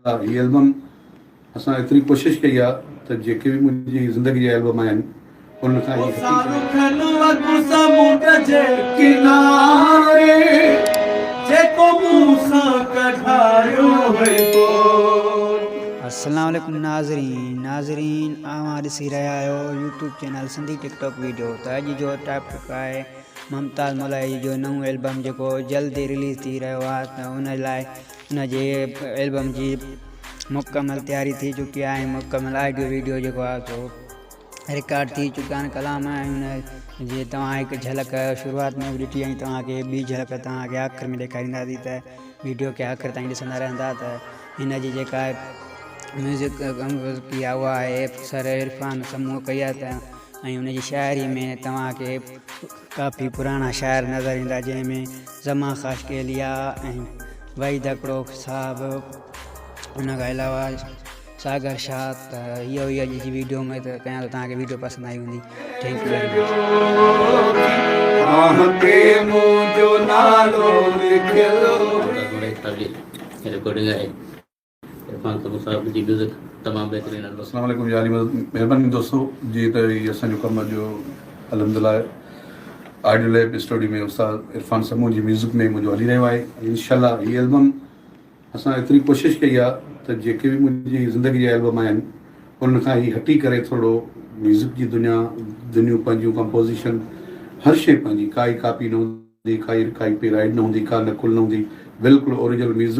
الله هي البم اسان ايتري ڪوشش ڪئي آ ته جيڪي به منهنجي زندگي جا البم آهن انهن کان هي السلام عليڪم ناظرين ناظرين اوهان ڏسي رهيا آهيو YouTube channel Sindhi TikTok video ته اڄ جو ٽاپڪ آهي ممتاز ملائي جو نئون البم جيڪو جلد رليز ٿي رهيو آهي ته ان لاء ان جي البم جي مڪمل تياري ٿي چڪي آهي ۽ مڪمل آڊيو وڊيو جيڪو آهي سو رڪارڊ ٿي چڪا آهن ڪلام ۽ ان جي توهان هڪ جهلڪ شروعات ۾ به ڏٺي ۽ توهان کي ٻي جهلڪ توهان کي آخر ۾ ڏيکارينداسين ته وڊيو کي آخر تائين ڏسندا رهندا ته هن جي جيڪا ميوزڪ ڪمپوز ڪئي آهي اها ايف سر عرفان سمون ڪئي آهي ته ۽ ان جي شاعري ۾ توهان کي ڪافي پراڻا شاعر نظر ايندا جنهن ۾ زمان خاشقيليٰ ۽ وحيد اڪڙوڪ صاحب ان کان علاوه ساگر شاهه ته اهو هي اڄ جي ويڊيو اميد ڪيان ته توهان کي ويڊيو پسند آئي هوندي thank you very much Irfan Tunio صاحب جي ميوزڪ تمام بهترين آهي. اسلام عليڪم يا علي مدد مهرباني دوستو جي ته هي اسان جو ڪم اڄ جو الحمدلله آڊيو ليب اسٽوڊيو ۾ استاد عرفان سمون جي ميوزڪ ۾ منهنجو هلي رهيو آهي انشاءالله هي البم اسان ايتري ڪوشش ڪئي آهي ته جيڪي به منهنجي زندگي جا البم آهن انهن کان هي هٽي ڪري ٿورڙو ميوزڪ جي دنيا دنيون پنهنجون ڪمپوزيشن هر شيء پنهنجي ڪائي ڪاپي نه هوندي ڪائي ڪائي پي رائيڊ نه هوندي ڪا نقل نه هوندي بلڪل اوريجنل ميوزڪ